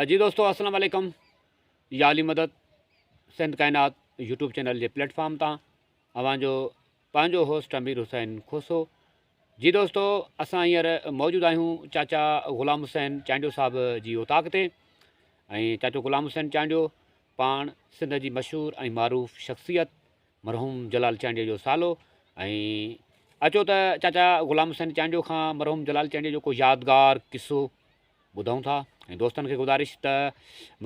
جي دوستو السلام عليڪم يا علي مدد سنڌ ڪائنات يوٽيوب چينل جي پليٽ فارم تان اوهان جو پنهنجو هوسٽ امير حسين کوسو جي دوستو اسان هينئر موجود آهيون چاچا غلام حسين چانڊيو صاحب جي اوطاق تي ۽ چاچو غلام حسين چانڊيو پاڻ سنڌ جي مشهور ۽ معروف شخصيت مرحوم جلال چانڊيو جو سالو ۽ اچو ته چاچا غلام حسين چانڊيو کان مرحوم جلال چانڊيو جو ڪو يادگار قصو ٻڌون ٿا ۽ دوستن کي گذارش ته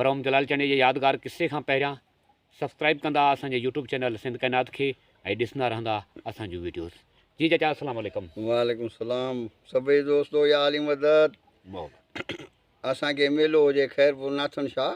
مرحوم جلال چانڊيو جي يادگار قصي کان پهريان سبسڪرائب ڪندا اسان جي يوٽيوب چينل سنڌ ڪائنات کي ۽ ڏسندا رهندا اسان جون ويڊيوز جي چاچا السلام عليڪم وعليڪم السلام سڀئي دوستو يا علي مدد اسان کي ميلو هجي خيرپور ناٿن شاهه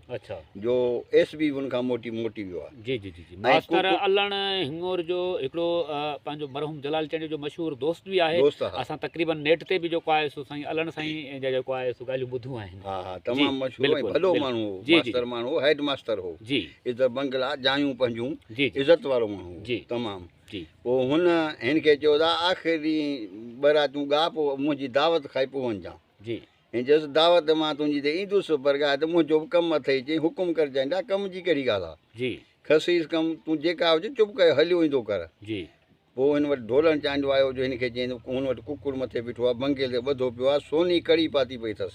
اڇا جو ايس بي ان کان موٽي موٽي ويو آهي جي جي جي جي ماستر علڻ هڱور جو هڪڙو پنهنجو مرحوم جلال چنڊ جو مشهور دوست به آهي دوست آهي اسان تقريبا نيٽ تي به جيڪو آهي سو سائين علڻ سائين جا جيڪو آهي سو ڳالهيون ٻڌيون آهن ها ها تمام مشهور ۽ ڀلو ماڻهو هو ماستر ماڻهو هو هيڊ ماستر هو جي ادھر بنگلا جايون پنهنجون جي عزت وارو ماڻهو هو جي تمام جي پو هن هن کي چيو ته آخري ٻه راتون ڳاهه پو منهنجي دعوت کائي پو وڃجان جي هن چيس، دعوت مان تنهنجي تي ايندس، پر ڳاهه ته منهنجو به ڪم اٿئي. چيائين، حڪم ڪر چيائين، جا ڪم جي ڪهڙي ڳالهه آهي؟ کسيس ڪم، تون جيڪا هجين چپ ڪري هليو ايندو ڪر. پوء هن وٽ ڍولڻ چانڊيو آيو، جو هن کي چيائين ته هن وٽ ڪڪڙ مٿي بيٺو آهي، بنگيل تي ٻڌو پيو آهي، سوني ڪڙي پاتي پئي اٿس.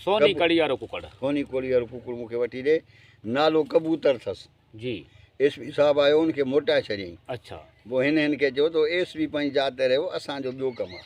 سوني ڪڙي وارو ڪڪڙ مون کي وٺي ڏي، نالو ڪبوتر اٿس. ايس پي صاحب آيو، هن کي موٽائي ڇڏيائين. پوء هن هن کي چيو ته ايس پي پنهنجي جاء تي رهيو، اسان جو ٻيو ڪم آهي.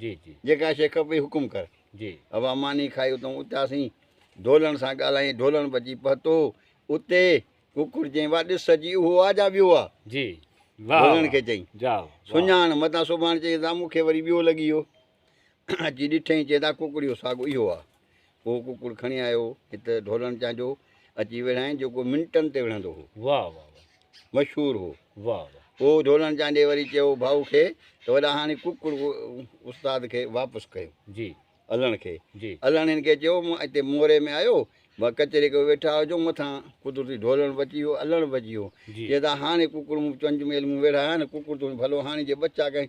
جيڪا شيء کپئي حڪم ڪر. اها ماني کائي اتئون اٿياسين. ڍولڻ سان ڳالهائين. ڍولڻ بچي پهتو اتي. ڪڪڙ چيائين، واهه ڏس سڄي اهو آ جا ٻيو آ؟ ڍولڻ کي چيائين، سڃاڻ متان سڀاڻ چيائين ته مون کي وري ٻيو لڳي ويو. اچي ڏٺئين چيائين ته ڪڪڙيو ساڳو اهو آ. ڪو ڪڪڙ کڻي آيو هت ڍولڻ چانجو اچي وڙهائين جيڪو منٽن تي وڙهندو هو واهه واهه واهه مشهور هو واهه واهه پوء ڍولڻ چانڊي وري چيو ڀائو کي ته وڏا هاڻي ڪڪڙ استاد کي واپس ڪيو جي الڻ کي جي الڻ هن کي چيو مون هتي موري ۾ آيو مان ڪچهري ڪيو ويٺا هجو مٿان قدرتي ڍولڻ بچي ويو الڻ بچي ويو جي چي ته هاڻي ڪڪڙ مون چونج ميل مون ويڙهايا نه ڪڪڙ تون ڀلو هاڻي جي ٻچا ڪنهن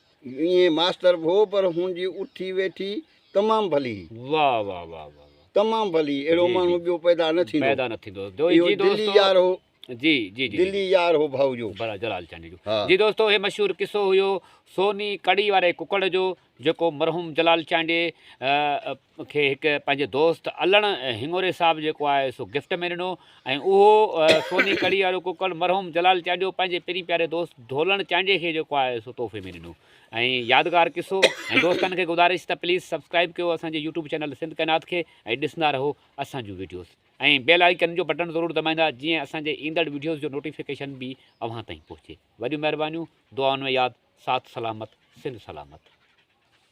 ائين ماستر ڀو پر هن جي اٺي ويٺي تمام ڀلي. واھ واھ واھ واھ. تمام ڀلي اهڙو ماڻهو ٻيو پيدا نه ٿيندو. پيدا نه ٿيندو. اهو دلي يار هو. جي جي جي. دلي يار هو ڀائو جو. بلا جلال چانڊيو جو. جي دوستو هي مشهور قصو هيو سوني ڪڙي واري ڪڪڙ جو جيڪو مرحوم جلال چانڊيي مون کي هڪ پنهنجي دوست علڻ هڱوري صاحب جيڪو آهي سو گفٽ ۾ ڏنو ۽ اهو سوني ڪڙي وارو ڪوڪڙ مرحوم جلال چانڊيو پنهنجي پرين پياري دوست ڍولڻ چانڊيي کي جيڪو آهي سو تحفي ۾ ڏنو ۽ يادگار قصو ۽ دوستن کي گذارش ته پليز سبسڪرائب ڪيو اسان جي يوٽيوب چينل سنڌ ڪائنات کي ۽ ڏسندا رهو اسان جون ويڊيوز ۽ بيل آئيڪن جو بٽڻ ضرور دٻائيندا جيئن اسان جي ايندڙ ويڊيوز جو نوٽيفڪيشن به اوهان تائين پهچي وڏيون مهربانيون دعائن ۾ ياد ساٿ سلامت سنڌ سلامت.